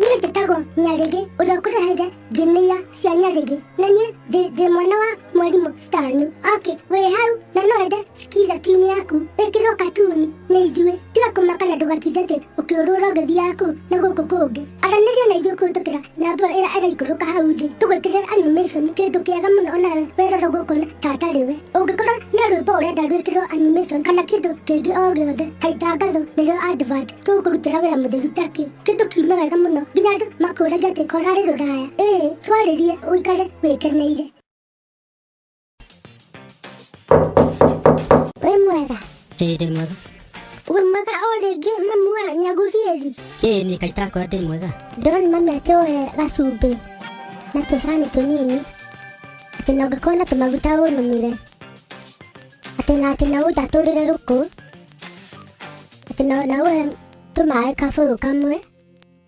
niĩ njĩtagwo nyarĩgĩ ũrĩa ũkũreheire nginia cia nyarĩgĩ na niĩ ndĩ ndĩ mwana wa mwarimũ stani ok wĩ hau na no ende skiza tini yaku ĩkĩrwo katuni nĩ ithuĩ tiga kũmaka na ndũgatinde atĩ ũkĩũrũra ũgĩthiaga kũu na gũkũ kũngĩ aranĩria na ithuĩ kũhĩtũkĩra namba ĩrĩa ĩraikũrũka hau thĩ tũgwĩkĩrĩra animation nĩ kĩndũ kĩega mũno ona we werora gũkũ na tatarĩ we ũngĩkorwo nĩ rwĩmbo ũrenda rwĩkĩrwo animation kana kĩndũ kĩngĩ o gĩothe ta itangatho nĩrĩo advert tũgũkũrutĩra wĩra mũtheru takĩ kĩndũ kiume wega mũno nginya andũ makũragia atĩ korarĩ rũraya ĩĩ twarĩrie ũikare wĩkeneire Wĩ mwega? Ĩĩ ndĩ mwega. Wĩ mwega o rĩngĩ mamu wa Nyagurieli? Ĩĩ nĩ kaĩ itakora ndĩ mwega. Ndĩrona mami atĩ oe gacumbĩ na tũcani tũnini atĩ na ũngĩkorwo na tũmaguta ũnũmire atĩ na atĩ na ũnjatũrĩre rũkũ atĩ na na ũhe tũmaĩ kabũyũ kamwe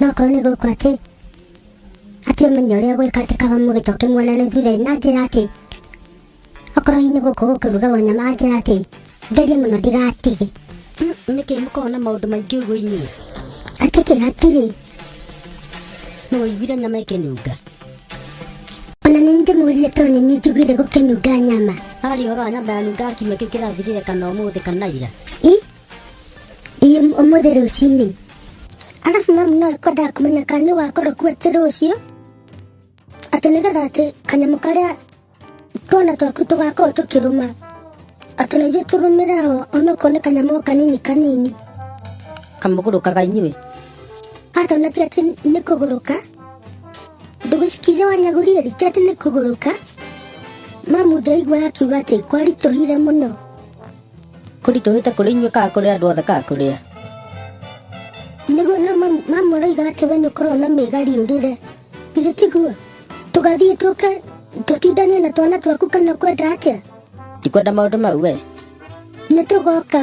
no korwo nĩ gũkũ atĩ atĩ ũmenye ũrĩa gwĩka atĩ kaba mũgĩcoke muonane thutha-inĩ na njĩra atĩ okorwo hihi nĩ gũkũ gũkĩrugagwo nyama na njĩra atĩ ngerie mũno ndigatige nĩkĩ mũkoragwo na maũndũ maingĩ ũguo inyuĩ atĩ kĩ hatirĩ no ũiguire nyama ĩkĩnunga ona nĩ ndĩmũrie tondũ nĩ niĩ njiguire gũkĩnunga nyama harĩ ũhoro wa nyama yanunga kiumia kĩu kĩrathirire kana ũmũthĩ kana ira i ii ũmũthĩ rũcinĩ arabu mamu no ekwendaga kũmenya kana nĩ wakorwo kuo atĩ rũciũ atĩ nĩgetha atĩ kanyamũ karĩa twana twaku tũgakorwo tũkĩrũma atĩ na ithuĩ tũrũmĩre ho onokorwo nĩ kanyamũ o kanini kanini kamũgũrũkaga inyuĩ atona ti atĩ nĩ kũgũrũka ndũgĩcikize wanyagũrire rĩ ti atĩ nĩ kũgũrũka mamu ndaigua akiuga atĩ kwaritũhire mũno kũritũhĩte kũrĩ inyuĩ kana kũrĩ andũ othe kana kũrĩ a nĩguo na mamũraiga atĩ we nĩ ũkoragwo na mĩgari ũrĩre githĩ tiguo tũgathiĩ tũke tũtindanie na twana twaku kana kwenda atĩa ndikwenda maũndũ mau we nĩ tũgoka